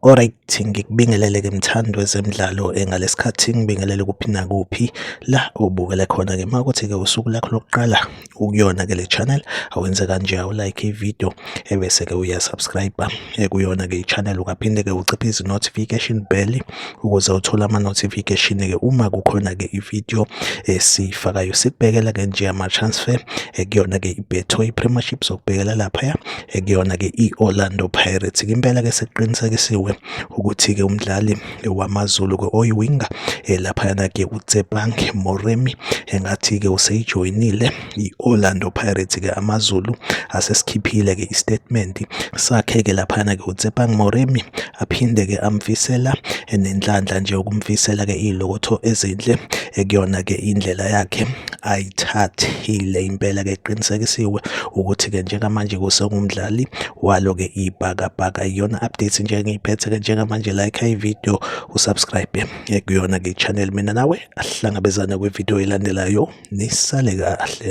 Alright, ngikubingelele ke mthando wezemidlalo eh, ngalesikhathi ngibingelele kuphi nakuphi la ubukele khona ke makuthi ke usuku lakho lokuqala ukuyona ke le channel awenze kanje awu like ivideo ebese eh, ke uya subscribe eh, kuyona ke ichannel ukaphinde ke uciphe izi notification bell ukuze uthole ama notification ke uma kukhona ke ivideo esifakayo sikubhekela ke nje ama transfer kuyona ke ibetho i premiership sokubhekela lapha ekuyona-ke i-Orlando Pirates. Impela-ke sekuqinisekisiwe ukuthi-ke umdlali wamaZulu-ke oyiwinga eh, laphayana-ke uTsepang Moremi engathi-ke useyijoyinile i-Orlando Pirates-ke amaZulu asesikhiphile-ke istatement sakhe-ke laphayana-ke uTsepang Moremi aphinde-ke amfisela nenhlanhla nje ukumfisela-ke iy'lokotho ezinhle ekuyona-ke indlela yakhe ayithathile impela-ke eqinisekisiwe ukuthi-ke njengamanje kusengumdlali walo-ke ibhakabhaka iyona update nje engiyiphethe-ke njengamanje like ividiyo usubscribe ekuyona-ke i-channel mina nawe ahlangabezane kwividiyo elandelayo nisale kahle